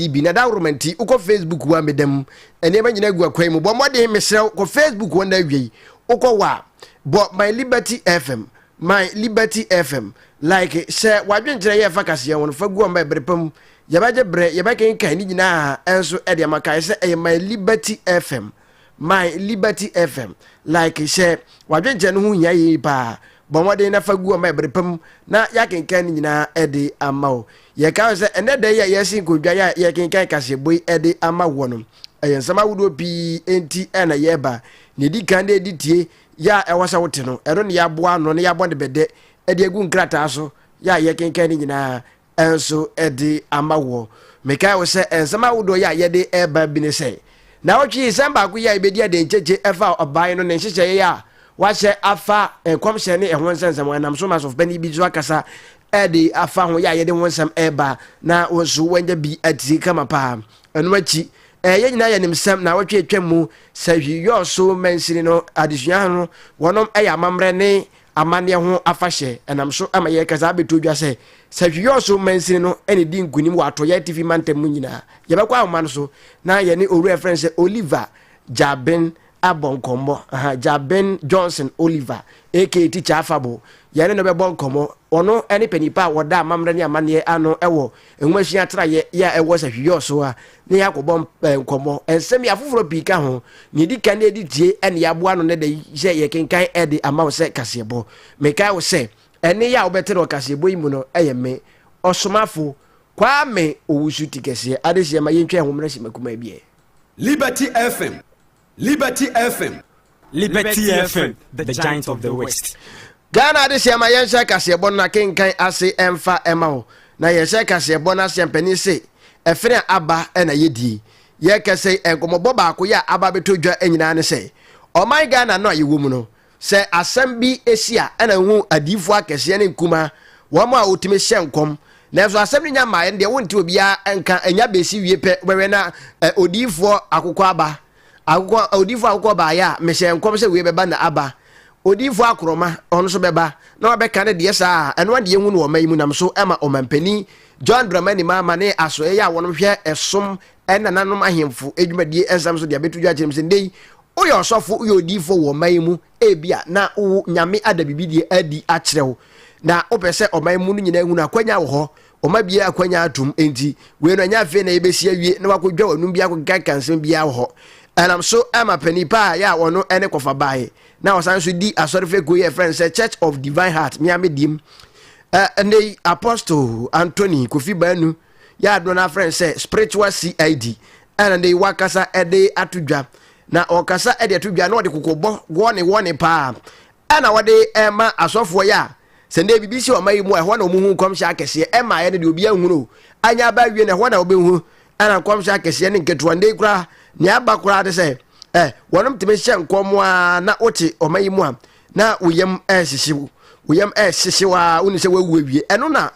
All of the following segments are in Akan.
biribi na dawuroma nti wokɔ facebook wa meda mu nneɛma nyinaa gu akwan mu bɔ mmɔden mesrɛ wo kɔ facebook hɔ na awiei wokɔ wa bɔ my liberty fm my liberty fm like hyɛ wadwenkyerɛ yɛ ɛfa kaseɛ ho no fa gu ɔma ɛbere pa mu yɛbɛgye berɛ yɛbɛkenkan ne nyinaa ɛnso ɛde ama kae sɛ ɛyɛ my liberty fm My Liberty FM, Like Hyɛ W'adwenkyerɛ no ho hia yie paa. Bɔ mmɔden na fa gu hɔ ma ɛbere pa mu na yɛakenkan ne nyinaa de ama wo. Yɛkae wo sɛ ɛnnɛ da yi a yɛresi nkondwa yi a yɛrekenkan kaseɛbɔ yi de ama woɔ no, ɛyɛ nsɛm ahodoɔ pii nti na yɛreba. Nea ɛdi kan ne ɛde tie yɛ a ɛwɔ sɛ wote no, ɛno na yɛaboa ano na yɛabɔ no bɛdɛ de agu nkrataa so yɛ a yɛkenkan ne nyinaa nso de ama wɔ. Mekae wo sɛ nsɛm ahodoɔ yi a yɛde reba bi ne sɛ, naawɔtwe yi sɛm baako yi a yɛbɛdi ade nkyekye ɛfa ɔbaa yi no ne nhyehyɛeɛ a wahyɛ afa nkɔmhyɛ ne ɛho nsɛnsɛm ɛnam so ma asɔfopanin bi nso akasa ɛde afa ho yɛ a yɛde ho nsɛm ɛreba na wo nso wanya bi atie kama paa ɛno akyi ɛɛ yɛn nyinaa yɛnim sɛm na wɔtwe atwam mu sɛ hwi yɔɔ so mansini no adesua ho no wɔnom ɛyɛ amammerɛ ne amanneɛ ho afahyɛ nam so ma yɛreka saa abɛto dwa sɛ, sɛ Hwiyɔɔso mansini no na ɛdi nkonim wɔ Atɔeɛ Atifi mantam mu nyinaa a, yɛbɛkɔ ahoma no so na yɛne owura a yɛfrɛ no sɛ Oliver Gyabin abɔ nkɔmmɔ. Aha, Gyabin Johnson Oliver aka Tikya Afabo. Yɛne no bɛbɔ nkɔmmɔ. Ɔno ne panipa a ɔda amammerɛ ne amanneɛ ano wɔ Nhomasua atraeɛ yɛ a ɛwɔ sɛ hweyɔɔ so a na yɛakɔbɔ nkɔmmɔ. Nsɛm yi afoforɔ pii ka ho. Nea ɛdi kan ne ɛde tie ɛne yɛaboa no ne da yi sɛ yɛkenkan ɛde ama wo sɛ kaseɛbɔ. Mekae wo sɛ ɛne yɛ a wobɛte no ɔkaseɛbɔ yi mu no ɛyɛ me, Ɔsomafo, Kwame Owusu Tikɛseɛ adesua ma yɛntwa ɛho mmra simma kumaa bi ɛ. Liberty FM, Liberty FM. Liberty FM, the giant of the west. Ghana adesua ma yɛnhyɛ kaseɛbɔ no akenkan ase mfa ɛma wo na yɛhyɛ kaseɛbɔ no ase mpanin se ɛfene a aba na yɛdie yɛkɛsɛ nkɔmmɔbɔ baako yɛ a aba bɛtɔ dwa nyinaa ne sɛ ɔman Ghana no a yɛwɔ mu no Sɛ asɛm bi si a, ɛna wohu adiyifo akɛseɛ ne nkumaa, wɔn a wɔtumi hyɛ nkɔm. Nanso asɛm no nya mmaeɛ no deɛ, wonte obiara nka, ɛnya bɛsi wie pɛ, wobɛhwɛ na ɛ, odiyifoɔ akokɔ aba. Akokɔ, odiyifoɔ akokɔ baeɛ a, mehyɛɛ nkɔm sɛ wei bɛba na aba. Odiyifoɔ akorɔma, ɔno nso bɛba, na wabɛka no deɛ saa a, ɛno ara deɛ yɛhu no wɔ ɔman yi mu nam so ma Ɔmampanin John Dramani Mahama ne asoɛeɛ a wɔnom hwɛ ɛsom ɛnananom ahemfo adwumadie nsɛm nso de abɛto dwa akyerɛ mu sɛ nnɛ yi woyɛ ɔsɔfo woyɛ odiyifoɔ wɔ ɔman yi mu ebi a na wo nyame ada bibidie adi akyerɛ wo na wopɛ sɛ ɔman mu no nyinaa hunu akwanya wɔ hɔ ɔma bie akwanya atom enti wei no ɛnyɛ afei na yɛbɛsi awie na wakɔdwa w'anum bi akɔkeka nsɛm biara wɔ hɔ ɛnam so ɛma panin paa yɛ a ɔno ɛne kɔfa baeɛ na ɔsan so di asɔre fɛ kuo yɛ ɛfrɛ no sɛ church of divine heart meamedim ɛnɛ yi apostle antony kofi baanu Yɛ a dodoɔ no ara frɛ no sɛ spiritual CID a na de wakasa de ato dwa. Na ɔkasa de ato dwa na ɔde kokobɔ wɔne wɔne paa a na wɔde ma asɔfoɔ yɛ a sɛ ndɛ biribi si ɔma yi mu a ɛhɔ na wɔn ho nkɔmhyɛ akɛseɛ ɛma ayɛ no deɛ obi ahunu anya aba awie no ɛhɔ na wɔbɛhunu ɛna nkɔmhyɛ akɛseɛ ne nketewa ndɛ koraa nea aba koraa de sɛ ɛ wɔnom tumi hyɛ nkɔm a na wote ɔma yi mu a na wo yam ɛrehyehye wo wo yam ɛrehyehye wo a wonim sɛ woawu awie ɛno na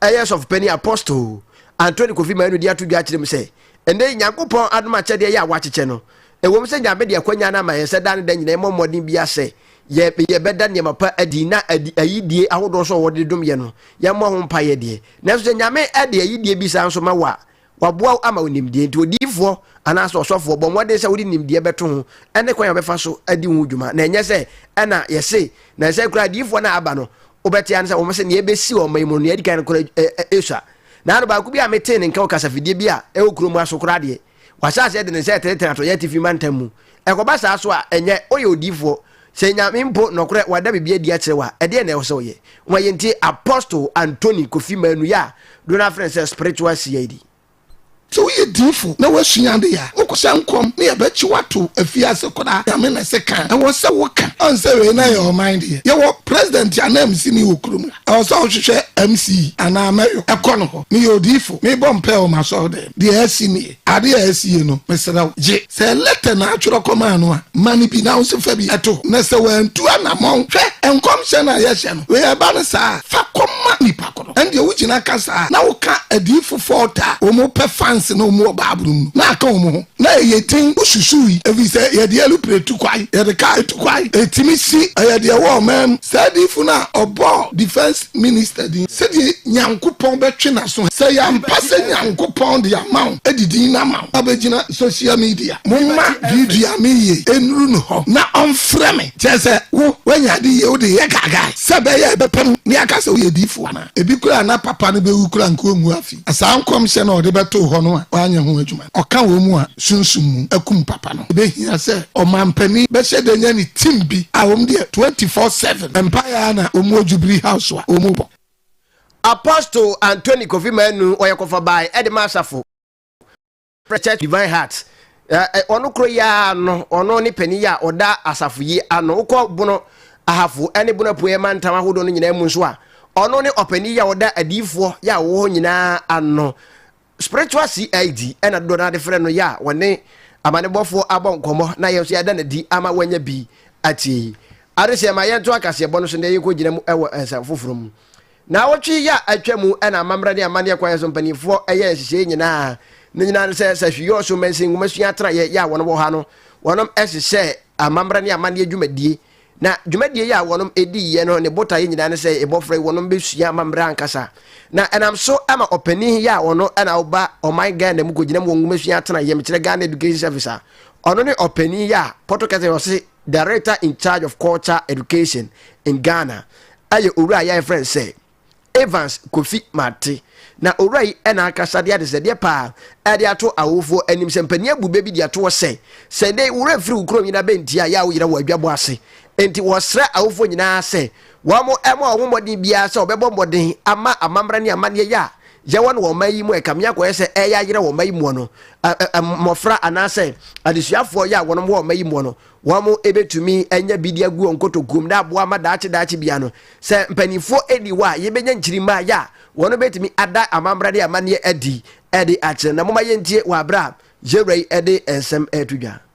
ɛyɛ sɔfopani apostol antoni kofi maanu de ato dwa kyerɛ mu sɛ ɛnɛ yi nyankopɔn adom akyɛdeɛ yɛ a wakyekyɛ no ɛwom sɛ nyame de akwanya no ama yɛn sɛ da ne da nyina ɛmmɔ mmɔden bia sɛ yɛbɛda nneɛma pa adi na ayidie ahodoɔ so a wɔde dom yɛ no yɛmmɔ ho mpaeɛ deɛ nanso sɛ nyame de ayidie bi saa nso ma wo a Wɔaboa wo ama wo nimdeɛ nti, odiyifoɔ anaasɛ ɔsɔfoɔ bɔ mmɔden sɛ wode nimdeɛ bɛto ho ne kwan a wobɛfa so adi ho dwuma, na ɛnyɛ sɛ ɛna yɛse. Na ɛsɛ koraa adiyifoɔ no a aba no, wobɛte ane sɛ wɔse nea ɛbɛsi wɔ ɔman yi mu no, nea ɛdi kan no koraa ɛsua. Na ano baako bi a metee ne nka wɔ kasafidie bi a ɛwɔ kuro mu ha so koraa deɛ, wahyɛ aseɛ de ne nsa retenetene atɔeɛ atifi mantam mu. Ɛkɔba saa so a, ɛnyɛ woyɛ odiyifoɔ. Sɛ Nyame mpo nɔkorɛ wada biribi adi akyerɛ wo a, ɛdeɛn na ɛwɔ sɛ woyɛ? Ho a yɛntie Apostle Anthony Kofi Manu yi a dodoɔ no ara frɛ no sɛ Spiritual CID. Sɛ woyɛ diyifo na woasua ade a, wokɔ sɛ nkɔm ne yɛbɛkye wo ato afiase koraa, Nyame na ɛse ka a, ɛwɔ sɛ woka. Ɔn sɛ wei na yɛ ɔman deɛ, yɛwɔ President ananmusini wɔ kurom ha, ɛwɔ sɛ ɔhwehwɛ MC anaa Mayor kɔ no hɔ. Meyɛ odiyifo, mebɔ mpaɛ wɔ m'asɔredɛm, deɛ asi nie. Ade a asie no, mesrɛ wo, gye. Sɛ lɛtɛ na atwerɛ kɔmaa no a, ma no bi na wo nso fa bi to hɔ. Na sɛ wantu anammɔn, hwɛ, nkɔmhyɛ no a yɛahyɛ no wei ɛba no saa a, fa kɔma nipa ko no. Ɛndeɛ wogyina ka saa a, na woka adiyifo fɔɔt a wɔn pɛ fanse na wɔn wɔ Bible no mu no, na aka wɔn ho. Na ɛyɛ den wosusuui, ɛfiri sɛ yɛde ɛlupre tu kwae, yɛde kaa tu kwae, ɛtumi si, ɛyɛ deɛ ɛwɔ ɔman mu. Saa diyifo no a ɔbɔɔ defense. minister din sɛdeɛ Nyankopɔn bɛtwe n'aso he. Sɛ yɛampa sɛ Nyankopɔn de ama wo de din no ama wo abɛgyina social media, momma video a meyɛ yi nnuru no hɔ na ɔmfrɛ me, kyerɛ sɛ wo woanya ade yie wode yɛ gaagae sɛ ɛbɛyɛ a ɛbɛpam ne aka sɛ woyɛ diifoɔ anaa ebi koraa na papa no bɛwu koraa nka ɔnwu afe. Na saa nkɔmhyɛ no a ɔde bɛtoo hɔ no a wanyɛ ho adwuma no, ɔka wɔn mu a sunsum mu akum papa no. Ebehia sɛ ɔmanpanin bɛhyɛ da nya ne team bi a wɔn deɛ twenty four seven mpaeɛ ara na wɔn wɔ Jubilee House a wɔn bɔ. Apostle Anthony Kofi Manu ɔyɛ kɔfabae de ma asafo. Preacher Divine Heart, eh, ɔno koro yi ara no, ɔno ne panin yi a ɔda asafo yi ano. Wokɔ bono ahafo ne bono apueɛ mantam ahodoɔ no nyinaa mu nso a, ɔno ne ɔpanin yi a ɔda adiyifoɔ yɛ a wɔwɔ hɔ nyinaa ano. Spiritual CID ɛna dodoɔ no ade frɛ no yɛ a wɔne amanebɔfoɔ abɔ nkɔmmɔ na yɛn nso yɛada no adi ama wɔanya bi atie. Adehyɛ ma yɛnto akaseɛbɔ no so na yɛnkɔgyina mu wɔ nsɛm foforɔ mu. Naawɔtwe yi a atwa mu na amammerɛ ne amanneɛ kwan so mpanimfoɔ yɛɛ nhyehyɛeɛ nyinaa. Ne nyinaa ne sɛ sahwi yɔɔ so mansin nwomasua atenaeɛ yɛ a wɔn wɔ ha no, wɔnom hyehyɛɛ amammerɛ ne amanneɛ dwumadie. Na dwumadie yi a wɔnom diiɛ no ne botaeɛ nyinaa ne sɛ ebɔfra yi wɔnom bɛsua amammerɛ ankasa. Na ɛnam so ama ɔpanin yi a ɔno na ɔba ɔman Ghana mu kɔgyinam wɔ nwomasua atenaeɛ, mekyerɛ Ghana Education Service a ɔno ne ɔpanin yi a Pɔtɔkɛsɛ ɔse Director in charge of culture education in Ghana yɛ owura yi a yɛfrɛ no sɛ Evans Kofi Martey. Na owura yi na akasa de adesɛdeɛ paa de ato awofoɔ anim sɛ mpanin abu bɛ bi de ato hɔ sɛ, sɛ nnɛ yi wo werɛ firi wo kuro nyina bɛnti a yɛ a wo yerɛ wɔ adwabɔ ase. Enti wɔsrɛ awofoɔ nyinaa sɛ Wɔammɔ wɔn ho mmɔden biara sɛ wɔbɛbɔ mmɔden ama amammerɛ ne amanneɛyɛ a yɛwɔ no wɔ ɔman yi mu a ɛkame akɔyɛ sɛ ɛreyɛ ayera wɔ ɔman yi mu no, mmofra anaasɛ adesuafoɔ yi a wɔnom wɔ ɔman yi mu no, wɔbɛtumi anya bidi agu wɔn nkotokuom na aboa ama daakye daakye biara no, sɛ mpanimfoɔ nni hɔ a, yɛbɛnya nkyirimmaeɛ a wɔnom bɛtumi ada amammerɛ ne amanneɛ adi de akyerɛ. Na momma yɛntie wɔ aberɛ a Yɛwura yi de nsɛm reto dwa.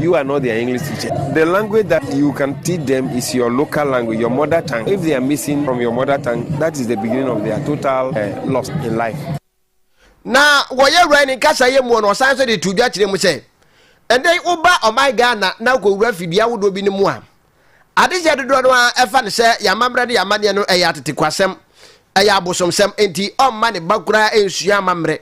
You are not their English teacher. The language that you can teach them is your local language, your mother tongue. If they are missing from your mother tongue, that is the beginning of their total uh, loss in life. Na wɔyɛ wura ne nkasa yɛ mu na ɔsan nso de to dwa kyerɛ mu sɛ ɛdɛ woba ɔman Ghana na wokɔwura fidua ahodoɔ bi no mu a adehyɛ dodoɔ no a ɛfa no sɛ yɛamammerɛ ne yɛamanneɛ no ɛyɛ atetekwasɛm ɛyɛ abosomsɛm enti ɔmma ne ba koraa nsua amammerɛ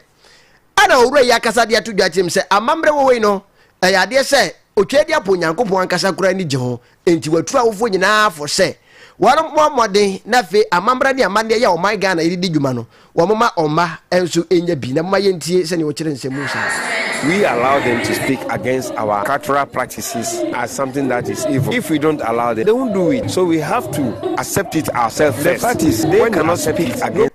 Ɛna Owura yi akasa de ato dwa kyerɛm sɛ amammerɛ wɔ hɔ yi no, ɛyɛ adeɛ sɛ otwa adi apɔ Onyankopɔn ankasa koraa ani gye ho, enti watu awofoɔ nyinaa fo sɛ wɔmmɔ mmɔden na afei amammerɛ ne amanneɛ yi a ɔman Ghana yi de di dwuma no, wɔmma ɔmma nso nnya bi. Na momma yɛntie sɛdeɛ ɔkyerɛ nsɛm mu saa. We allow them to speak against our cultural practices as something that is evil. If we don't allow them, they won't do it. So we have to accept it ourselves first. The fact is, they cannot speak against.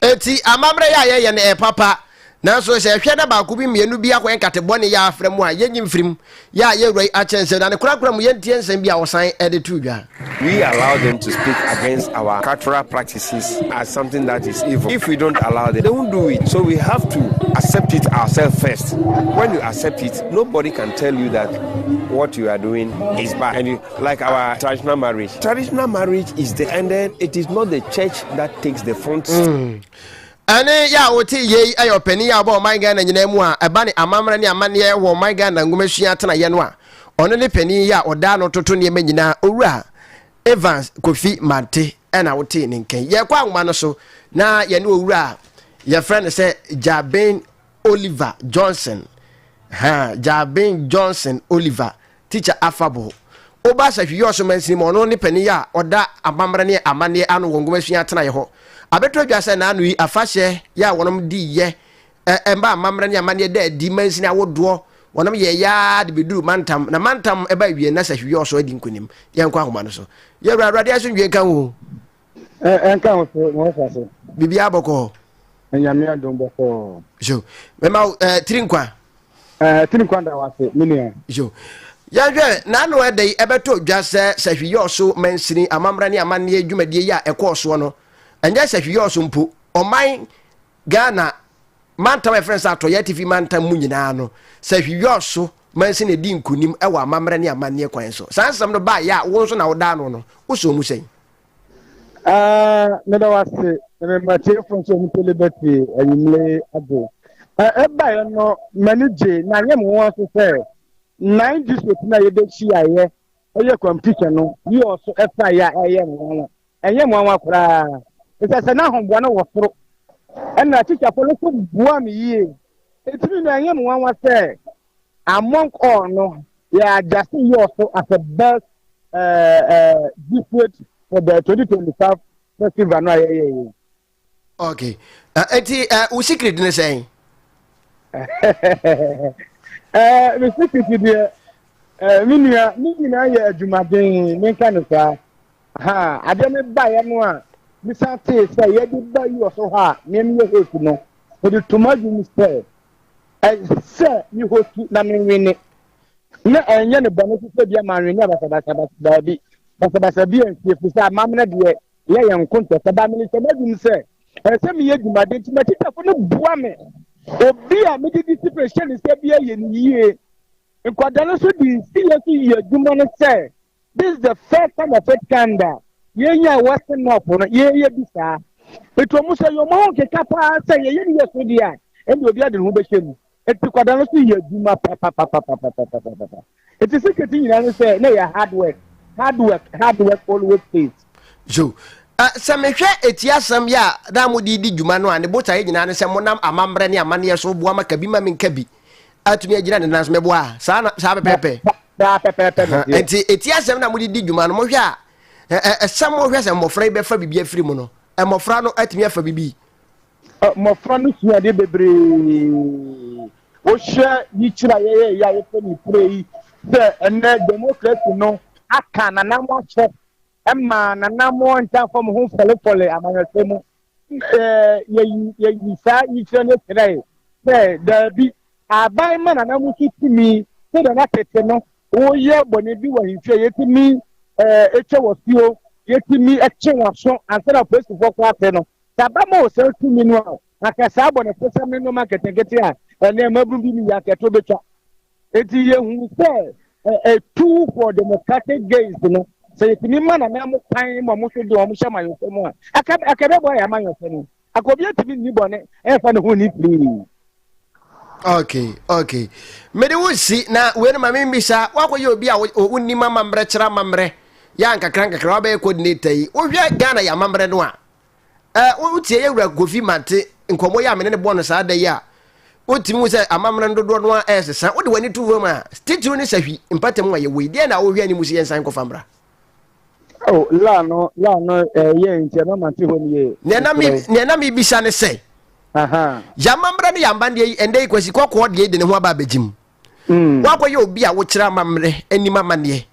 Enti amammerɛ yɛ a yɛyɛ no, ɛyɛ papa. Nanso sɛ yɛhwɛ na baako bi, mmienu bi akɔyɛ nkate bɔne yɛ a afra mu a, yɛnyi mfiri mu. Yɛ a yɛn wura yi akyɛ nsam, na ne korakora mu yɛntie nsɛm bi a ɔsan de to dwa. We allow them to speak against our cultural practices as something that is evil. If we don't allow them, they won't do it. So we have to accept it ourselves first. When you accept it, nobody can tell you that what you are doing is bad. And you Like our traditional marriage. Traditional marriage is the and then it is not the church that takes the front. Mm. ɛne yɛ a wote yei ɛyɛ ɔpanin a ɔbɔ ɔman ghana nyinaa mu a ɛba ne amammerɛ ne amanneɛ wɔ ɔman ghana nwomasua atenayɛ no a ɔno ne panin yɛ a ɔdaa no toto nneɛma nyinaa owura evans kofi mante ɛna wote ne nkɛn yɛkɔ anwoma no so na yɛne owura a yɛfrɛ no sɛ jaben oliver johnson ha jaben johnson oliver Teacher Afabo, Obas Ahwiyɔɔso Mansini mu a ɔno ne panin a ɔda amammerɛ ne amanneɛ ano wɔ Nwomasua atenaeɛ hɔ. Abɛtɔ dwa sɛ nnaano yi afahyɛ yɛ a wɔnom de yɛ ɛ mma amammerɛ ne amanneɛ da adi mansini ahodoɔ wɔnom yɛeɛ ara de bɛduru mantam na mantam ɛba awiɛ na sɛ Ahwiyɔɔso adi nkonim. Yɛnkɔ ahoma no so. Yɛwura Awurade asomdwoe nka wo. Ɛ ɛnka ho so na ɔfa so. Biribiara bɔkɔ hɔ. Nyame adom bɔkɔ hɔ. Yo, mɛma wo ɛɛ tiri nkwa. Ɛɛ tiri nkwa da wase me nua. Yo, yɛhwɛ n'ano ɛdɛ yi ɛbɛto dwa sɛ Sahwi-Yɔɔso mansini amammerɛ ne amanneɛ dwumadie yi a ɛkɔɔ soɔ no, ɛnyɛ Sahwi-Yɔɔso mpo, ɔman Ghana mantam a yɛfrɛ no sɛ Atɔeɛ Atifi mantam mu nyinaa no, Sahwi-Yɔɔso mansini na ɛdi nkunim wɔ amammerɛ ne amanneɛ kwan so. Saa nsɛm no baeɛ a wo nso na wodaa ano no, wosoo mu sɛn? Ah, meda wo ase na mema tiefo nso ɔmo tele bɛte anwummere yi ado. Ɛ ɛbaeɛ no m'ani gye na anyɛ me nwa nso sɛ nine district no a yɛbɛhyiaeɛ ɛyɛ competition no yɛ ɔso ɛfaeɛ a ɛyɛ nwanwa ɛnyɛ nwanwa koraa ɛsɛ sɛ n'ahoboa no wɔ soro ɛna tikyafoɔ no nso boa me yie ɛtumi na ɛnyɛ me nwanwa sɛ Among all no, yɛ adjusting year so as a best uh, uh, district for the 2025 festival no a yɛyɛ yɛ. Okay. Uh, eti uh, wo secret ne sɛn? Eh, me secret deɛ eh, me nua ne nyinaa yɛ adwumaden menka no saa ha adeɛ me baeɛ no a mesan tee sɛ yɛde ba us hɔ a nneɛma yɛ host no mede toma dwom sɛ Ɛsɛ sɛ mehɔ su na menwene, na ɛnyɛ ne bɔne so sɛ bia manwene basabasa baabi. Basabasa bi ansi ɛfiri sɛ amammerɛ deɛ yɛ yɛn nko ntɛ sɛ ba mene sɛ m'adwum sɛ ɛsɛ sɛ meyɛ adwumaden nti m'atitafo no boa me. Obi a mede disipline hyɛ ne nsa biara yɛ no yie. Nkwadaa no nso de nsiyɛ nso yɛ adwuma no sɛ This is the first time of it kind a yɛnya a Western North no yɛyɛ bi saa. Nti wɔn sɛ yɛn ho nkeka paa sɛ yɛyɛ ne yɛ so deɛ a ɛnna obi ade ne ho bɛhyɛ mu. Nti kwadaa no so yɛ adwuma papapapapapapapa. Nti sikɛti nyinaa no sɛ na yɛ hard work hard work hard work always pays. So uh, sɛ mehwɛ eti asɛm yɛ a na mode di dwuma no a ne botaeɛ nyinaa ne sɛ monam amammerɛ ne amanneɛ so boa ma kabi ma menka bi. atumi agyina ne nan so mɛboa a saa na saa pɛpɛɛpɛ saa pɛpɛɛpɛ na ɛteɛ nti eti asɛm na mode di dwuma no mohwɛ a ɛ- ɛ- ɛsɛm mohwɛ sɛ mmɔfra yi bɛfa biribi afiri mu no mmɔfra no atumi afa biribi Ɔ, mmɔfra no sua adeɛ bebree wohwɛ yikyerɛ a yɛyɛ yɛ a yɛfɛ ne pire yi sɛ ɛnɛ demokrasi no aka nanam ahyɛ Ɛma n'anammɔn ntaa fam ho fɔlefɔle amanyɔsɛm mu. Yɛyi saa yikyerɛ no kyerɛe sɛ, Dabi, aban ma n'anammɔn so tumi, sɛnea na tete no woyɛ bɔne bi wɔ ahemfie a yetumi twa wɔ asuo, yetumi twe wɔn aso ansa na polisifo kɔ ase no. Sɛ aban ma wɔ saa tumi no a, anka saa abɔnefosɛm ne nneɛma nketenkete a ɛnnɛ mmabun bi mu yɛ anka ɛto betwa. Enti yɛhuu sɛ ɛtu for democratic gains no, sɛ yɛtumi ma nana mo kwan ma ɔmo nso de ɔmo hyɛ amanyɔsɛm mu a, aka aka ɛbɛboa yɛn amanyɔsɛm no. Aka obi atumi nni bɔne ɛmfa ne ho nni firii. Okay, okay. Mede wo si na wei no ma me mbisa, woakɔyɛ obi a wonim amammerɛ kyerɛ amammerɛ yɛ a nkakra nkakra wabɛyɛ coordinator yi. Wohwɛ Ghana yɛ amammerɛ no a, Eh, wotie yɛ wura Kofi Mate nkɔmmɔ yi a mene ne bɔɔ no saa da yi a, wotumi hu sɛ amammerɛ no dodoɔ no a ɛresesa. Wode w'ani to fam a, titiriw ne sahwi mpatamu a yɛwɔ yi, deɛ na wohwɛ anim sɛ yɛnsan nkɔfa mmra. Oh, laa no, laa no, eh, yɛ nti ɛma mate hɔ no yie. Nea na me, nea na mebisa ne sɛ, yɛamammerɛ ne yɛambandeɛ yi, ɛndɛ yi kwasi kɔkɔɔ deɛ yi de ne ho aba abɛgye mu. Mm. Woakɔyɛ obi a wokyerɛ amammerɛ anim amanneɛ.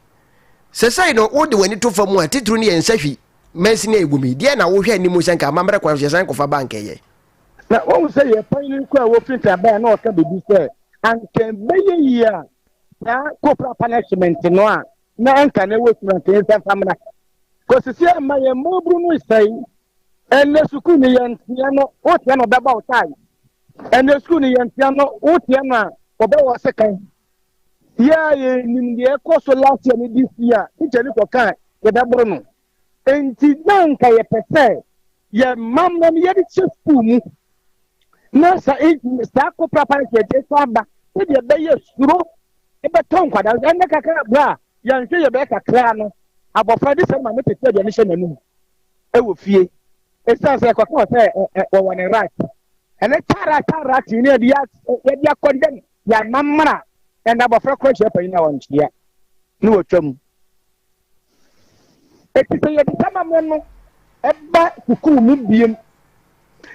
Sɛsɛe no, wode w'ani to fam a, titiriw ne yɛn nsahwi Mansini a ɛgu mu yi, deɛn na wohwɛ anim sɛ nka amammerɛ kwan so yɛsan kɔfa ba anka ɛyɛ? Na woahu sɛ yɛn panyin koro a wofiri nta bae no reka biribi sɛ, Anka ɛbɛyɛ yie a saa corporal punishment no a na anka na ɛwɔ sukuu anka yɛnsan mfa mmra. Kɔsi sɛ ɛma yɛn mmabunu no sɛe. Ɛnnɛ sukuu no yɛnteɛ no, woteɛ no ɔbɛbɔ wo tae. Ɛnnɛ sukuu no yɛnteɛ no, woteɛ no a ɔbɛwɔ wo sekan. Yɛa yɛnnim deɛ ɛkɔ so last year ne this year teacher no kɔ kaa yɛbɛboro no nti na nka yɛpɛ sɛ yɛ mam no no yɛde kyɛ school mu na sa saa ko prapa no sɛ ɛde sa aba sɛdeɛ ɛbɛyɛ suro ɛbɛtɔ nkwadaa nso ɛnɛ kakra bra a yɛnhwɛ yɛbɛyɛ kakra no abɔfra de sɛ ma ne tete aduane hyɛ n'anum ɛwɔ fie ɛsiane sɛ ɛkɔka sɛ wɔwɔ ne rat ɛne tara tara tee ne yɛde akɔndɛm Yɛama mmara ɛna abɔfra kɔ ahyia panyin a ɔnkyea ne wɔtwa mu. Ɛti sɛ yɛde sama me no ɛba sukuu mu biem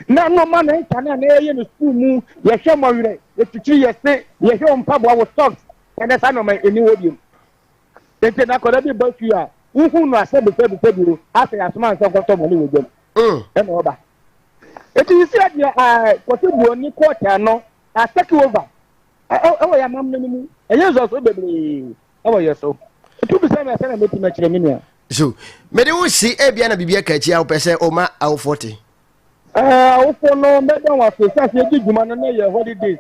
na nnoɔma na ɛnka no a na yɛyɛ no sukuu mu yɛhwɛ mmɔwerɛ yɛtwitwiri yɛse yɛhwɛ wo mpaboa wo socks ɛnɛ saa nnoɔma ɛni hɔ biem ɛnti na akɔda bi ba sukuu a wohu no asɛ bɛsɛ bɛsɛ bio asɛ yɛasoma nsɛ nkɔtɔ mɔ ne wɔ dwam ɛna ɔba ɛti sɛ deɛ kɔtɔ buoni kɔtɛ no a take over ɛwɔ yɛ amammerɛ no mu ɛyɛ nsɔsoro bebree ɛwɔ yɛ so ɛtu bisa mi asɛ na mɛtumi akyerɛ me nua so mede wo si ebia na biribi aka akyi a wopɛ sɛ ɔma awofoɔ te awofoɔ no mɛda wɔn ase sɛ ase ɛdi dwuma no na yɛ holiday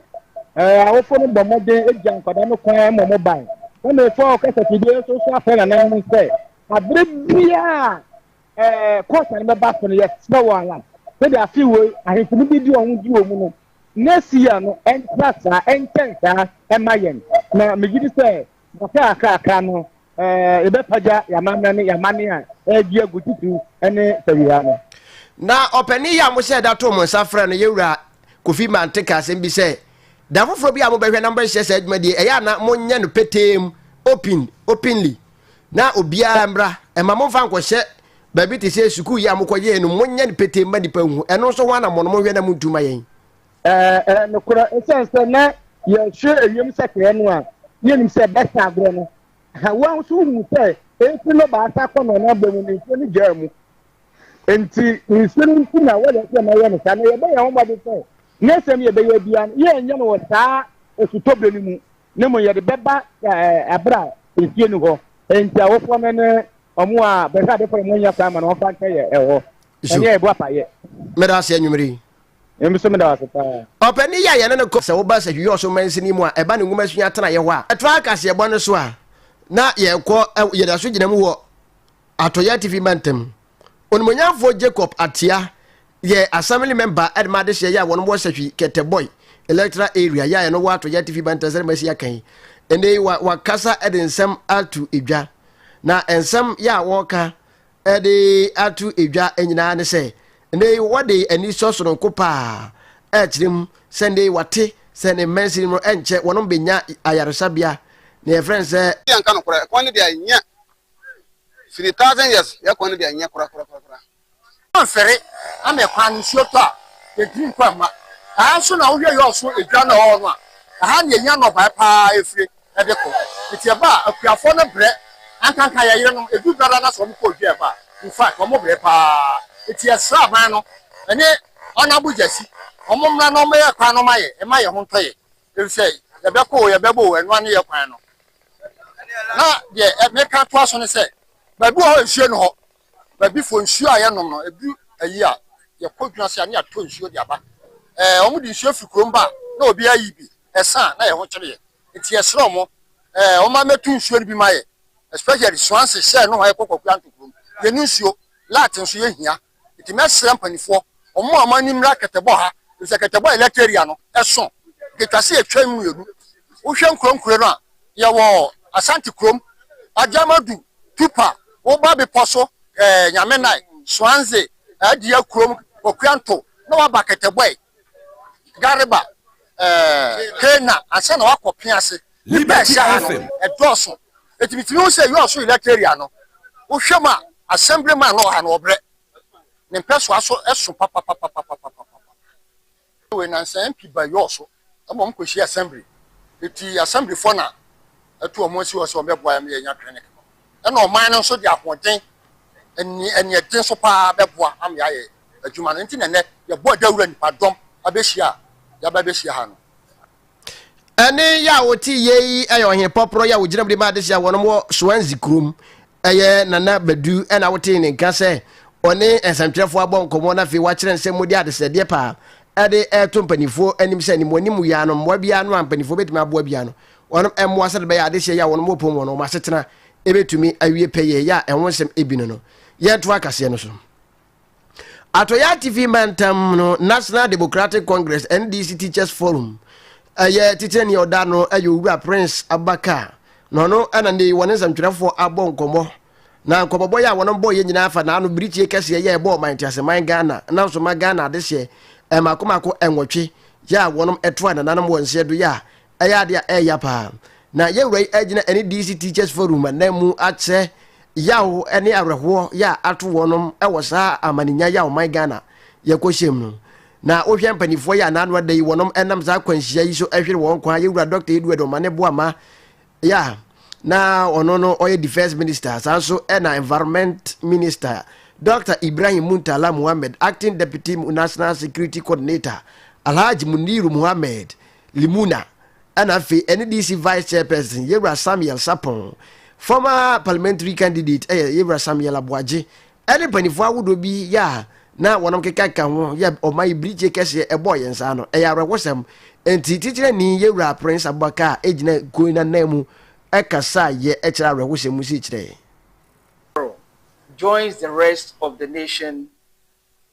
awofoɔ no bɔ mmɔden ɛgya nkwadaa no kwan ma ɔmo ban na mefo a ɔkasa fidie nso so afɛ nananom no sɛ abere biaa kɔsa no bɛba so no yɛsrɛ wɔ ala sɛde afe wei ahemfo no bi di ɔho di wɔ mu no Mesia no ntra saa, ɛntɛn saa mma yɛn. Na megye di sɛ kakra a aka aka no, yɛbɛpagya yɛn amammerɛ ne yɛn amanne a ɛregye agu titiriw ne Sawia no. Na Ɔpanyin yi a mohyɛɛ da too mo nsa frɛɛ no, yɛn Wura Kofi Mante, kaa asɛm bi sɛ, Da foforɔ bi a mobɛhwɛ na mobɛhyehyɛ saa dwumadie yi, ɛyɛ a na monyɛ no petee mu, open, openly. na obiara mmra ɛma mo nfa nkɔhyɛ baabi te sɛ sukuu yi a mokɔ yɛɛ no monyɛ no petee mma nipa nhu ɛno nso ho anammɔ no monhwɛ na montu ma yɛn ɛɛ ɛɛ nokorɛ ɛsiane sɛ na yɛhwɛ ewiem sakyerɛ no a yɛnim sɛ bɛsa agorɔ no ha wɔn nso wohunu sɛ ɛfiri no baasa akɔ na ɔno abɔ mu no nsuo no gyaa mu nti nsuo no nti na wɔyɛ sɛ na yɛ no saa na yɛbɛyɛ ho mmɔden sɛ ne nsɛm yɛbɛyɛ biara no yɛnyɛ no wɔ saa osutɔbere no mu na mmom yɛde bɛba bere a nsuo nni hɔ. Enti awofoɔ no ne wɔn a bɛhwɛ adefoɔ no nya kwan ma no wɔmfa nkyɛ yɛn wɔ ɛneɛ yɛbɔ apaeɛ. Meda ase anwummere yi. Emi nso meda ase paa. Ɔpanin yi a yɛne no kɔ. Sɛ woba Sahwihwɛ-Ɔsom Mansini mu a, ɛba ne nwoma sua tenaeɛ hɔ a ɛtoa kaseɛbɔ no so a, na yɛkɔ, yɛda so gyina mu wɔ Atɔeɛ Atifi Mantam. Onimuonyamfoɔ Jacob Ateah yɛ Assembly Member de ma adehyeɛ yɛ a wɔn wɔ Sahwi Keteboy Electoral Area yɛ a ɛno wɔ Atɔeɛ Atifi Mantam sɛdeɛ masi aka yi. Ɛnɛ yi wakasa de nsɛm ato edwa na nsɛm yɛ a wɔka de ato edwa nyinaa ne sɛ ɛnɛ yi wɔde anisɔ sononko paa ɛkyerɛ mu sɛ ɛnɛ yi wate sɛ ne mmansin mu ɛnkyɛ wɔn bɛnya ayaresabea na yɛfrɛ no sɛ. Yɛnka nokorɛ, ɛkwan no deɛ ɛnyɛ firi thousand years yɛ kwan no deɛ nyɛ kora kora kora. Mfere ana ɛkwan no nsuo tɔ a yɛntumi nkɔ mma ɛha nso na wohwɛ yɔɔ so edwa na ɔwɔ no a ɛha na yɛnya nnɔbaeɛ paa ɛfire ɛde kɔ nti ɛba a akuafoɔ no brɛ ankanka yɛyere nom ɛdu dwada no sɛ wɔn kɔ dwa ɛba a in fact wɔn brɛ paa nti yɛsrɛ aban no ɛne honourable gyasi wɔn mmra na wɔn yɛ kwan no ma yɛ ɛma yɛ ho ntɔ yɛ Efisɛ yɛbɛko o, yɛbɛbɔ o, ɛnoa ne yɛ kwan no. Na deɛ meka toa so ne sɛ, baabi wɔ hɔ nsuo ne hɔ. Baabi fo nsuo a yɛnom no, edu ayi a, yɛkɔ dwena ase a, ne yɛatɔ nsuo de aba. Ɛɛ, wɔn de nsuo firi kurom ba a, na obi ayi bi, ɛsa a, na yɛn ho kyere yɛn. Nti yɛsrɛ wɔn, ɛɛ, wɔn ma mɛtu nsuo no bi ma yɛn. Especially Swansea, Shell nohoa, yɛkɔ Kwakuanto kurom, yɛnni nsuo. Lat nso yɛhia. Nti mɛsrɛ mpaninfoɔ wɔn a wɔn ani mmra kɛtɛbɔ ha efisɛ kɛtɛbɔ elect area no ɛso ketwa se etwa mu mmienu. Wohwɛ nkuro nkuro no a yɛwɔ Asante kurom, Agyamadu, Tupa, woba bepɔ so ɛɛ Nyamenai, Swanze, Adia kurom, Kwakuanto na waba kɛtɛbɔɛ, Gariba. Kenya ansa na wakɔ pea ase. Nnipa ɛhyɛ ha no ɛdɔɔso. Eti mitumi hu sɛ yɔɔso elect area no wohwɛ mu a assembly man no wɔ ha no ɔbrɛ. Ne mpɛsoa so ɛso papapapapapapa. Wei nansa MP ba yɔɔso ɛma wɔn kɔ hyia assembly. Eti assembly foɔ na ɛto wɔn asi hɔ sɛ wɔn bɛboa yɛn ma yɛn nya clinic no. Ɛna ɔman no nso de ahoɔden ɛne ɛne ɛden so paa bɛboa ama yɛayɛ. adwuma no nti na nnɛ yɛbɔɔ dawuru a nnipadɔm abehyia a yɛaba abehyia ha no. Ɛnne yi a wote yɛ yi yɛ Ɔhene Pɔprɔ yi a wogyina mu de ma adesua wɔ nom wɔ Swansea kurom. Ɛyɛ Nana Badu na wotee ne nka sɛ ɔne nsɛmtwerɛfoɔ abɔ nkɔmmɔ na afei wakyerɛ nsɛm mu de adesrɛdeɛ paa de reto mpanimfoɔ anim sɛ ne mu anim wia no mmoa biara no a mpanimfoɔ bɛtumi aboa bia no wɔnom mmoa sɛde bɛyɛ adesua yi a wɔnom wɔpom wɔ no wɔn asetena ɛbɛtumi awie pɛyɛ yɛ a ɛho nsɛm ebi no no yɛntoa kaseɛ no so. Atɔeɛ Atifi Mantam no National Democratic Congress, NDC, Teachers Forum yɛ titenani a ɔda ano yɛ Owura Prince Abubakar na ɔno na ne wɔne nsɛmtwerɛfoɔ abɔ nkɔmmɔ na nkɔmmɔbɔ yɛ a wɔnom bɔeɛ nyinaa afa n'ano birikyie kɛseɛ yɛ ɛbɔ ɔman teaseman Ghana na nso ma Ghana adehyeɛ mmaako mmaako nwɔtwe yɛ a wɔnom ɛtoa nananom wɔ nseɛ do yɛ a Ɛyɛ ade a ɛyɛ ya paa. Na yɛn wura yi agyina ɛne DC Teachers Forum ananmu akyerɛ yaw ne awerɛhoɔ yɛ a ato wɔnom wɔ saa amaninya yɛ a ɔman Ghana yɛkɔhyɛm no. Na wohwɛ mpanifoɔ yɛ a n'ano ada yi wɔnom nam saa akwanhyia yi so hwere wɔn kwan. Yɛn wura Dɔkta Edward Omane Boamah yɛ a na ɔno no ɔyɛ Defence Minister saa nso ɛna Environment Minister Dɔkta Ibrahim Muntala Mohammed Acting Deputy National Security Coordinator Alhaji Muniru Mohammed Limuna, ɛna afei NDC Vice Chairperson Yewura Samuel Sarpong, former Parliamentary candidate ɛyɛ Yewura Samuel Aboagye, ɛne mpaninfoɔ ahodoɔ bi yɛ a na wɔnom kekakeka ho yɛ ɔman yi birikye kɛseɛ ɛbɔɔ yɛn saa no, ɛyɛ awerɛhosɛm. Nti Titirani Yewura Prince Abubakar ɛgyina kuo yi nananmu ɛkasaa yɛ ɛkyerɛ awerɛhosɛm mu sii kyerɛ yɛn. Joins the rest of the nation